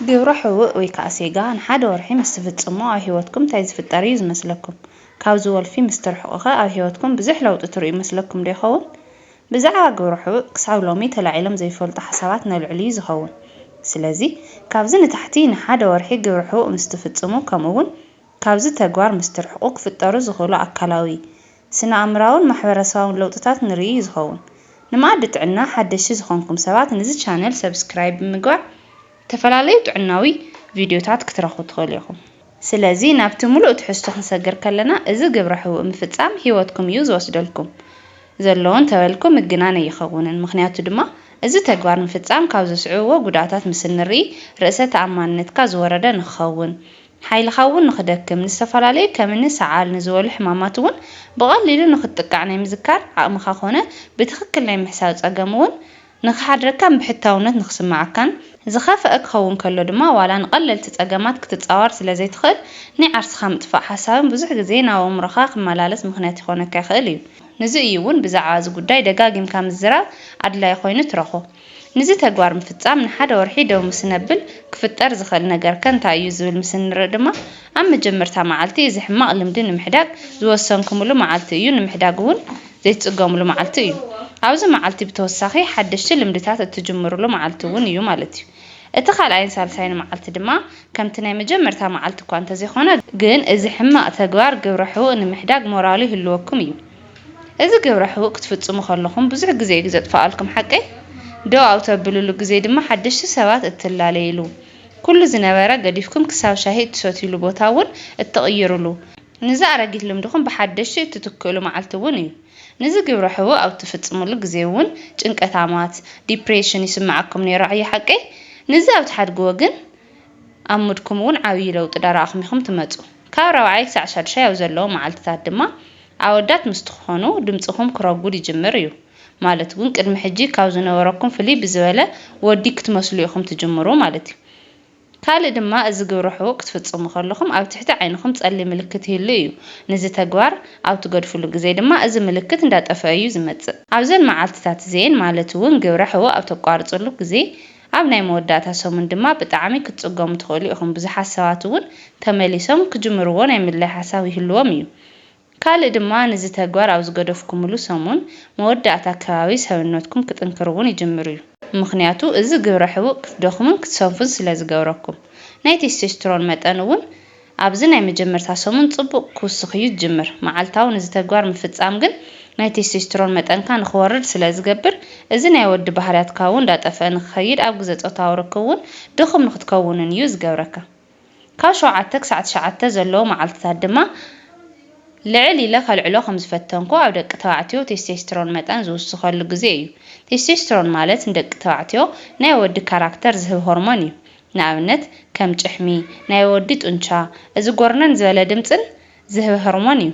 ግብረ ሕውእ ወይ ከኣ ሴጋ ንሓደ ወርሒ ምስ ትፍጽሙ ኣብ ህይወትኩም እንታይ ዝፍጠር እዩ ዝመስለኩም? ካብዚ ወልፊ ምስ ትርሕቁ'ኸ ኣብ ህይወትኩም ብዙሕ ለውጢ ትርእዩ መስለኩም ዶ ይኸውን? ብዛዕባ ግብረ ሕውእ ክሳብ ሎሚ ተላዒሎም ዘይፈልጡ ሓሳባት ነልዕል እዩ ዝኸውን። ስለዚ ካብዚ ንታሕቲ ንሓደ ወርሒ ግብረ ሕውእ ምስ ትፍጽሙ ከምኡ'ውን ካብዚ ተግባር ምስ ትርሕቁ ክፍጠሩ ዝኽእሉ ኣካላዊ፣ ስነኣእምራውን ማሕበረሰባውን ለውጥታት ንርኢ እዩ ዝኸውን። ንመኣዲ ጥዕና ሓደሽቲ ዝኾንኩም ሰባት ንዚ ቻነል ሰብስክራይብ ብምግባር ዝተፈላለዩ ጥዕናዊ ቪድዮታት ክትረኽቡ ትኽእሉ ኢኹም። ስለዚ ናብቲ ምሉእ ትሕዝቶ ክንሰግር ከለና እዚ ግብረ ሕውእ ምፍጻም ህይወትኩም እዩ ዝወስደልኩም ዘሎ እንተበልኩ ምግናን ኣይኸውንን። ምኽንያቱ ድማ እዚ ተግባር ምፍጻም ካብ ዘስዕብዎ ጉድኣታት ምስ እንርኢ ርእሰ ተኣማንነትካ ዝወረደ ንክኸውን ሓይልኻ እውን ንኽደክም፣ ንዝተፈላለዩ ከምኒ ሰዓል ንዝበሉ ሕማማት እውን ብቐሊሉ ንኽትጥቃዕ ናይ ምዝካር ዓቕምኻ ኮነ ብትኽክል ናይ ምሕሳብ ጸገም እውን ንኽሓድረካን ብሕታውነት ንኽስምዓካን፣ ዝኸፍኣ ክኸውን ከሎ ድማ ዋላ ንቐለልቲ ጸገማት ክትጻወር ስለ ዘይትኽእል ናይ ዓርስኻ ምጥፋእ ሓሳብን ብዙሕ ግዜ ናብ ኣእምሮኻ ክመላለስ ምኽንያት ይኾነካ ይኽእል እዩ። ንዚ እዩ እውን ብዛዕባ እዚ ጉዳይ ደጋጊምካ ምዝራብ ኣድላዪ ኮይኑ ትረኽቦ። ንዚ ተግባር ምፍጻም ንሓደ ወርሒ ደው ምስ እነብል ክፍጠር ዝኽእል ነገር ከ እንታይ እዩ ዝብል ምስ እንርኢ ድማ ኣብ መጀመርታ መዓልቲ እዚ ሕማቕ ልምዲ ንምሕዳግ ዝወሰንክምሉ መዓልቲ እዩ ንምሕዳግ እውን ዘይትጽገምሉ መዓልቲ እዩ ኣብዚ መዓልቲ ብተወሳኺ ሓደሽቲ ልምድታት እትጅምርሉ መዓልቲ እውን እዩ ማለት እዩ እቲ ካልኣይን ሳልሳይን መዓልቲ ድማ ከምቲ ናይ መጀመርታ መዓልቲ እኳ እንተዘይኮነ ግን እዚ ሕማቕ ተግባር ግብረ ሕቡእ ንምሕዳግ ሞራሉ ይህልወኩም እዩ። እዚ ግብረ ሕቡእ ክትፍጽሙ ከለኹም ብዙሕ ግዜ እዩ ዘጥፍኣልኩም ሓቀይ? ደው ኣብ ተብልሉ ግዜ ድማ ሓደሽቲ ሰባት እትላለይሉ፣ ኩሉ ዝነበረ ገዲፍኩም ክሳብ ሻሂ እትሰትዩሉ ቦታ እውን እትቕይሩሉ፣ ንዚ ኣረጊት ልምድኹም ብሓደሽቲ እትትክእሉ መዓልቲ እውን እዩ። ንዚ ግብረ ሕቡእ ኣብ እትፍጽምሉ ግዜ እውን ጭንቀታማት፣ Depression፣ ይስምዓኩም ነይሩ ኣዩ ሓቀይ? ንዚ ኣብ ትሓድግዎ ግን ኣብ ሙድኩም እውን ዓብዪ ለውጢ ዳረኣኹም ኢኹም ትመጹ። ካብ ራብዓይ ክሳዕ ሻዱሻይ ኣብ ዘለዉ መዓልትታት ድማ ኣወዳት ምስ ትኾኑ ድምጽኹም ክረጉድ ይጅምር እዩ ማለት ውን ቅድሚ ሕጂ ካብ ዝነበረኩም ፍልይ ብዝበለ ወዲ ክትመስሉ ኢኹም ትጅምሩ ማለት እዩ። ካልእ ድማ እዚ ግብረ ሕቡእ ክትፍጽሙ ከለኹም ኣብ ትሕቲ ዓይንኹም ጸሊም ምልክት ይህሉ እዩ ንዚ ተግባር ኣብ ትገድፍሉ ግዜ ድማ እዚ ምልክት እንዳጠፈኣ እዩ ዝመጽእ። ኣብዘን መዓልትታት እዚኤን ማለት ውን ግብረ ሕቡእ ኣብ ተቋርጽሉ ግዜ ኣብ ናይ መወዳእታ ሰሙን ድማ ብጣዕሚ ክትጽገሙ ትኽእሉ ኢኹም ብዙሓት ሰባት ውን ተመሊሶም ክጅምርዎ ናይ ምድላይ ሓሳብ ይህልዎም እዩ ካልእ ድማ ንዚ ተግባር ኣብ ዝገደፍኩምሉ ሰሙን መወዳእታ ኣከባቢ ሰብነትኩም ክጥንክር እውን ይጅምር እዩ። ምኽንያቱ እዚ ግብረ ሕቡእ ክትደኽሙን ክትሰንፉን ስለ ዝገብረኩም። ናይ ቴስቴስትሮን መጠን እውን ኣብዚ ናይ መጀመርታ ሰሙን ጽቡቕ ክውስኽ እዩ ዝጅምር። መዓልታዊ ንዚ ተግባር ምፍጻም ግን ናይ ቴስቴስትሮን መጠንካ ንክወርድ ስለ ዝገብር እዚ ናይ ወዲ ባህርያትካ እውን እንዳጠፍኣ ንክኸይድ ኣብ ግዘ ጾታዊ ርክብ እውን ድኹም ንክትከውንን እዩ ዝገብረካ። ካብ ሸውዓተ ክሳዕ ትሽዓተ ዘለዉ መዓልትታት ድማ ልዕል ኢለ ከልዕሎ ከም ዝፈተንኩ፣ ኣብ ደቂ ተባዕትዮ ቴስቴስትሮን መጠን ዝውስኸሉ ግዜ እዩ። ቴስቴስትሮን ማለት ንደቂ ተባዕትዮ ናይ ወዲ ካራክተር ዝህብ ሆርሞን እዩ። ንኣብነት ከም ጭሕሚ፣ ናይ ወዲ ጡንቻ፣ እዚ ጎርነን ዝበለ ድምጽን ዝህብ ሆርሞን እዩ።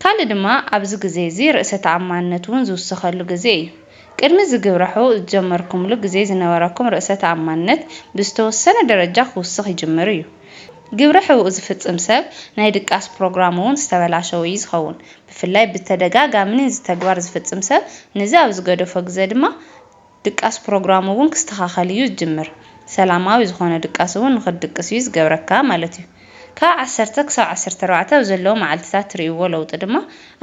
ካልእ ድማ ኣብዚ ግዜ'ዚ ርእሰ ተኣማንነት እውን ዝውሰኸሉ ግዜ እዩ። ቅድሚ እዚ ግብረሑ ዝጀመርኩምሉ ግዜ ዝነበረኩም ርእሰ ተኣማንነት ብዝተወሰነ ደረጃ ክውስኽ ይጅምር እዩ። ግብረ ሕውኡ ዝፍጽም ሰብ ናይ ድቃስ ፕሮግራሙ እውን ዝተበላሸወ እዩ ዝኸውን። ብፍላይ ብተደጋጋሚ ንዚ ተግባር ዝፍጽም ሰብ ንዚ ኣብ ዝገደፎ ግዘ ድማ ድቃስ ፕሮግራሙ እውን ክስተኻኸል እዩ ዝጅምር። ሰላማዊ ዝኾነ ድቃስ እውን ንኽትድቅስ እዩ ዝገብረካ ማለት እዩ። ካብ ዓሰርተ ክሳብ ዓሰርተ ኣርባዕተ ኣብ ዘለዉ መዓልቲታት ትርእይዎ ለውጢ ድማ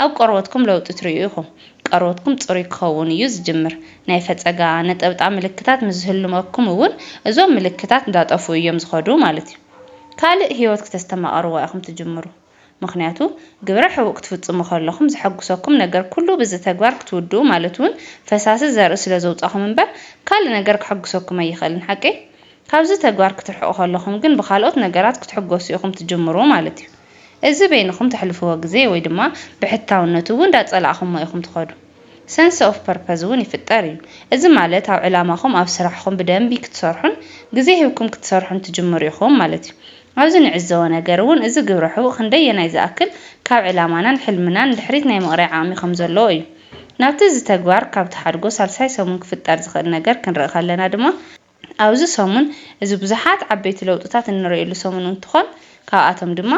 ኣብ ቆርበትኩም ለውጢ ትርእዩ ኢኹም። ቀርበትኩም ጽሩይ ክኸውን እዩ ዝጅምር። ናይ ፈጸጋ፣ ነጠብጣ ምልክታት ምስ ዝህልመኩም እውን እዞም ምልክታት እንዳጠፍኡ እዮም ዝኸዱ ማለት እዩ። ካልእ ህይወት ክተስተማቕርዋ ኢኹም ትጅምሩ። ምኽንያቱ ግብረ ሕቡእ ክትፍጽሙ ከለኹም ዘሐጉሰኩም ነገር ኩሉ ብዚ ተግባር ክትውድኡ ማለት ውን ፈሳሲ ዘርኢ ስለ ዘውጻኹም እምበር ካልእ ነገር ከሐጉሰኩም ኣይኽእልን ሓቂ ካብዚ ተግባር ክትርሕቁ ከለኹም ግን ብካልኦት ነገራት ክትሕጎሱ ኢኹም ትጅምሩ ማለት እዩ እዚ በይንኹም ተሕልፍዎ ግዜ ወይ ድማ ብሕታውነቱ ውን ዳጸላእኹሞ ኢኹም ትኸዱ ሰንሰ ኦፍ ፐርፐዝ እውን ይፍጠር እዩ። እዚ ማለት ኣብ ዕላማኹም ኣብ ስራሕኹም ብደንቢ ክትሰርሑን ግዜ ሂብኩም ክትሰርሑን ትጅምሩ ኢኹም ማለት እዩ። ኣብዚ ንዕዘቦ ነገር እውን እዚ ግብረ ሕቡእ ክንደየናይ ዝኣክል ካብ ዕላማናን ሕልምናን ንድሕሪት ናይ ምቕራይ ዓቕሚ ከም ዘለዎ እዩ። ናብቲ እዚ ተግባር ካብ ትሓድጎ ሳልሳይ ሰሙን ክፍጠር ዝኽእል ነገር ክንርኢ ከለና ድማ፣ ኣብዚ ሰሙን እዚ ብዙሓት ዓበይቲ ለውጥታት እንርእየሉ ሰሙን እንትኾን ካብኣቶም ድማ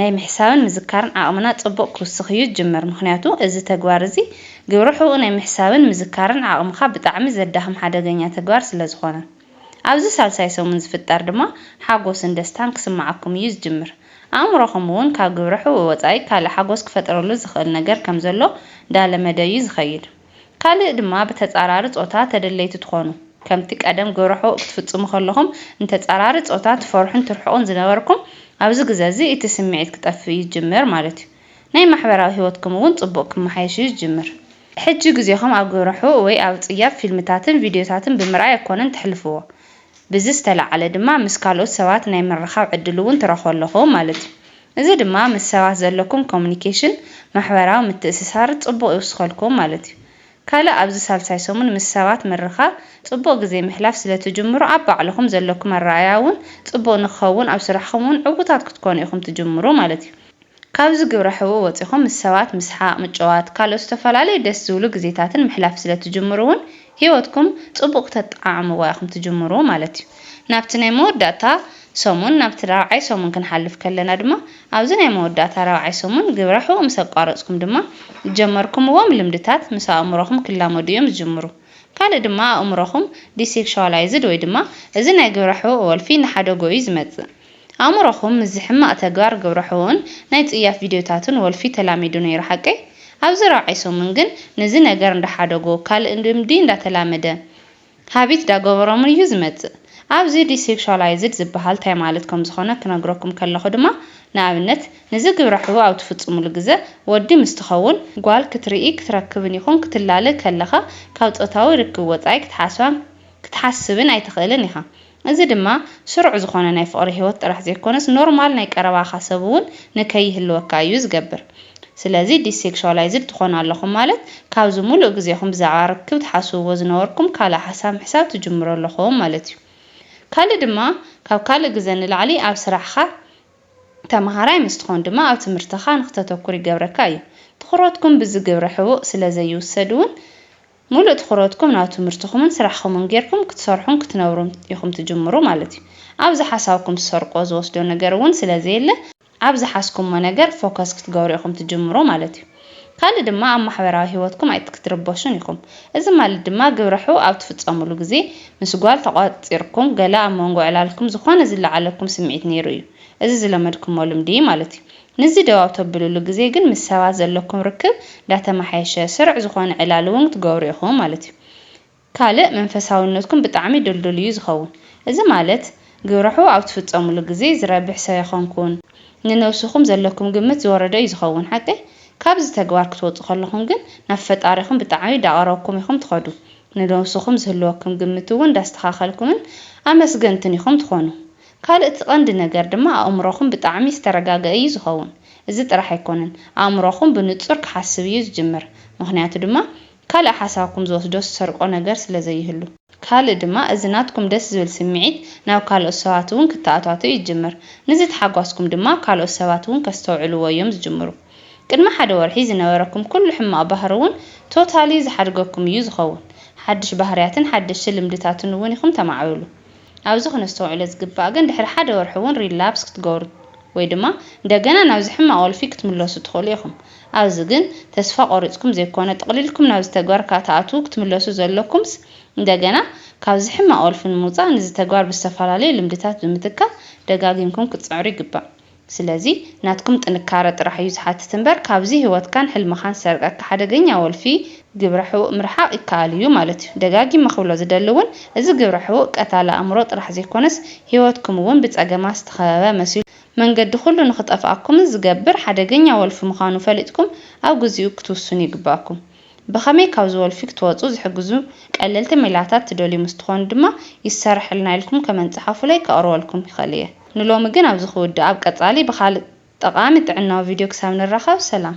ናይ ምሕሳብን ምዝካርን ዓቕምና ጽቡቕ ክውስኽ እዩ ዝጅምር ምኽንያቱ እዚ ተግባር እዚ ግብረ ሑኡ ናይ ምሕሳብን ምዝካርን ዓቕምኻ ብጣዕሚ ዘዳኽም ሓደገኛ ተግባር ስለዝኾነ ኣብዚ ሳልሳይ ሰሙን ዝፍጠር ድማ ሓጎስን ደስታን ክስምዓኩም እዩ ዝጅምር ኣእምሮኹም እውን ካብ ግብረ ሑኡ ወጻኢ ካልእ ሓጎስ ክፈጥረሉ ዝኽእል ነገር ከምዘሎ ዳለመደ እዩ ዝኸይድ። ካልእ ድማ ብተጻራሪ ጾታ ተደለይቲ ትኾኑ። ከምቲ ቀደም ግብረሕቡእ ክትፍጽሙ ከለኹም ንተጻራሪ ጾታ ትፈርሑን ትርሕቑን ዝነበርኩም፣ ኣብዚ ግዘ'ዚ እቲ ስምዒት ክጠፍእ እዩ ዝጅምር ማለት'ዩ። ናይ ማሕበራዊ ህይወትኩም እውን ጽቡቕ ክመሓየሽ እዩ ዝጅምር። ሕጂ ግዜኹም ኣብ ግብረሕቡእ ወይ ኣብ ጽያፍ ፊልምታትን ቪድዮታትን ብምርኣይ ኣይኮነን ተሕልፍዎ። ብዚ ዝተለዓለ ድማ ምስ ካልኦት ሰባት ናይ ምርኻብ ዕድል'ውን ትረኽቡ ኣለኹም ማለት'ዩ። እዚ ድማ ምስ ሰባት ዘለኩም ኮሙኒኬሽን፣ ማሕበራዊ ምትእስሳር፣ ጽቡቕ ይውስኸልኩም ማለት እዩ። ካልእ ኣብዚ ሳልሳይ ሰሙን ምስ ሰባት ምርኻብ፣ ጽቡቕ ግዜ ምሕላፍ ስለ ትጅምሩ ኣብ ባዕልኹም ዘለኩም ኣረኣእያ እውን ጽቡቕ ንክኸውን ኣብ ስራሕኹም እውን ዕውታት ክትኮኑ ኢኹም ትጅምሩ ማለት እዩ። ካብዚ ግብረ ሕቡእ ወጺኹም ምስ ሰባት ምስሓቕ፣ ምጭዋት፣ ካልኦት ዝተፈላለዩ ደስ ዝብሉ ግዜታትን ምሕላፍ ስለ ትጅምሩ እውን ህይወትኩም ጽቡቕ ክተጠዓዕምዋ ኢኹም ትጅምሩ ማለት እዩ። ናብቲ ናይ መወዳእታ ሰሙን፣ ናብቲ ራብዓይ ሰሙን ክንሓልፍ ከለና ድማ፣ ኣብዚ ናይ መወዳእታ ራብዓይ ሰሙን ግብረ ሕቡእ ምስ ኣቋረጽኩም ድማ፣ ዝጀመርኩምዎም ልምድታት ምስ ኣእምሮኹም ክላመዱ እዮም ዝጅምሩ። ካልእ ድማ ኣእምሮኹም ዲሴክሹዋላይዝድ ወይ ድማ እዚ ናይ ግብረ ሕቡእ ወልፊ እናሓደጎ እዩ ዝመጽእ። ኣእምሮኹም ምስዚ ሕማቕ ተግባር ግብረ ሕውኡን ናይ ጽያፍ ቪድዮታቱን ወልፊ ተላሚዱ ነይሩ ሓቀይ? ኣብዚ ራብዓይ ሰሙን ግን ንዚ ነገር እንዳሓደጎ ካልእ ልምዲ እንዳተላመደ ሃቢት ዳገበሮምን እዩ ዝመጽእ። ኣብዚ ዲሴክሹዋላይዝድ ዝበሃል ታይ ማለት ከምዝኾነ ክነግረኩም ከለኹ ድማ ንኣብነት ንዚ ግብረ ሕቡእ ኣብ ትፍጽሙሉ ግዘ ወዲ ምስ ትኸውን፣ ጓል ክትርኢ፣ ክትረክብን ይኹን ክትላለ ከለኻ ካብ ጾታዊ ርክብ ወጻኢ ክትሓስባን ክትሓስብን ኣይትኽእልን ኢኻ። እዚ ድማ ስሩዕ ዝኾነ ናይ ፍቕሪ ህይወት ጥራሕ ዘይኮነስ ኖርማል ናይ ቀረባኻ ሰብ እውን ንከይህልወካ እዩ ዝገብር። ስለዚ ዲስሴክሹዋላይዝድ ትኾኑ ኣለኹም ማለት ካብዚ ሙሉእ ግዜኹም ብዛዕባ ርክብ ትሓስብዎ ዝነበርኩም ካልእ ሓሳብ ምሕሳብ ትጅምሩ ኣለኹም ማለት እዩ። ካልእ ድማ ካብ ካልእ ግዘ ንላዕሊ ኣብ ስራሕኻ፣ ተምሃራይ ምስ ትኾን ድማ ኣብ ትምህርትኻ ንክተተኩር ይገብረካ እዩ። ትኹረትኩም ብዚ ግብረ ሕቡእ ስለዘይውሰድ እውን ሙሉእ ትኹረትኩም ናብ ትምህርትኹምን ስራሕኹምን ጌርኩም ክትሰርሑን ክትነብሩን ኢኹም ትጅምሩ ማለት እዩ። ኣብዚ ሓሳብኩም ትሰርቁዎ ዝወስዶ ነገር እውን ስለ ዘየለ ኣብ ዝሓዝኩሞ ነገር ፎከስ ክትገብሩ ኢኹም ትጅምሩ ማለት እዩ። ካልእ ድማ ኣብ ማሕበራዊ ሂወትኩም ኣይትክትርበሹን ኢኹም። እዚ ማለት ድማ ግብረ ሕው ኣብ ትፍፀሙሉ ግዜ ምስ ጓል ተቋፂርኩም ገለ ኣብ መንጎ ዕላልኩም ዝኾነ ዝለዓለኩም ስምዒት ነይሩ እዩ። እዚ ዝለመድኩሞ ልምዲ ማለት እዩ። ንዚ ደው ኣብ ተብሉሉ ግዜ ግን ምስ ሰባት ዘለኩም ርክብ እንዳተማሓየሸ ስሩዕ ዝኮነ ዕላል እውን ክትገብሩ ኢኩም ማለት እዩ። ካልእ መንፈሳውነትኩም ብጣዕሚ ድልዱል እዩ ዝከውን። እዚ ማለት ግብረሕው ኣብ ትፍጸሙሉ ግዜ ዝረብሕ ሰብ ኣይኮንኩን ንነብስኩም ዘለኩም ግምት ዝወረደ እዩ ዝከውን ሓቀይ? ካብዚ ተግባር ክትወጹ ከለኩም ግን ናብ ፈጣሪኩም ብጣዕሚ እዳቀረብኩም ኢኩም ትከዱ ንነብስኩም ዝህልወክም ግምት እውን እንዳስተካከልኩምን ኣመስገንትን ኢኩም ትኮኑ። ካልእ እቲ ቀንዲ ነገር ድማ ኣእምሮኹም ብጣዕሚ ዝተረጋገኣ እዩ ዝኸውን። እዚ ጥራሕ ኣይኮነን ኣእምሮኹም ብንጹር ክሓስብ እዩ ዝጅምር። ምኽንያቱ ድማ ካልእ ሓሳብኩም ዝወስዶ ዝሰርቆ ነገር ስለ ዘይህሉ። ካልእ ድማ እዚ ናትኩም ደስ ዝብል ስምዒት ናብ ካልኦት ሰባት እውን ክተኣታቶ እዩ ዝጅምር። ንዚ ተሓጓስኩም ድማ ካልኦት ሰባት እውን ከስተውዕልዎ እዮም ዝጅምሩ። ቅድሚ ሓደ ወርሒ ዝነበረኩም ኩሉ ሕማቕ ባህሪ እውን ቶታሊ ዝሓድገኩም እዩ ዝኸውን። ሓድሽ ባህርያትን ሓደሽቲ ልምድታትን እውን ኢኹም ተማዕብሉ። ኣብዚ ክነስተውዕሎ ዝግባእ ግን ድሕሪ ሓደ ወርሒ እውን ሪላፕስ ክትገብሩ ወይ ድማ እንደገና ናብዚ ሕማቕ ወልፊ ክትምለሱ ትኽእሉ ኢኹም። ኣብዚ ግን ተስፋ ቆሪጽኩም ዘይኮነ ጥቕሊልኩም ናብዚ ተግባር ካትኣትዉ ክትምለሱ ዘለኩምስ እንደገና ካብዚ ሕማቕ ወልፊ ንምውጻእ ንዚ ተግባር ብዝተፈላለዩ ልምድታት ብምትካእ ደጋጊምኩም ክትጽዕሩ ይግባእ። ስለዚ ናትኩም ጥንካረ ጥራሕ እዩ ዝሓትት እምበር ካብዚ ሂወትካን ሕልምኻን ዝሰርቀካ ሓደገኛ ወልፊ ግብረ ሕውእ ምርሓቅ ይከኣል እዩ ማለት እዩ ደጋጊመ ክብሎ ዝደሊ እውን እዚ ግብረ ሕውእ ቀታሊ ኣእምሮ ጥራሕ ዘይኮነስ ሂወትኩም እውን ብፀገማት ዝተኸበበ መሲሉ መንገዲ ኩሉ ንክጠፍኣኩምን ዝገብር ሓደገኛ ወልፊ ምኻኑ ፈሊጥኩም ኣብ ግዚኡ ክትውስኑ ይግበኣኩም ብኸመይ ካብዚ ወልፊ ክትወፁ ዝሕግዙ ቀለልቲ ሜላታት ትደልዩ ምስትኾኑ ድማ ይሰረሐልና ኢልኩም ከመንት ፀሓፉለይ ከቅርበልኩም ይኽእል እየ። ንሎሚ ግን ኣብዚ ክውድእ ኣብ ቀጻሊ ብኻልእ ጠቓሚ ጥዕናዊ ቪድዮ ክሳብ ንራኸብ ሰላም።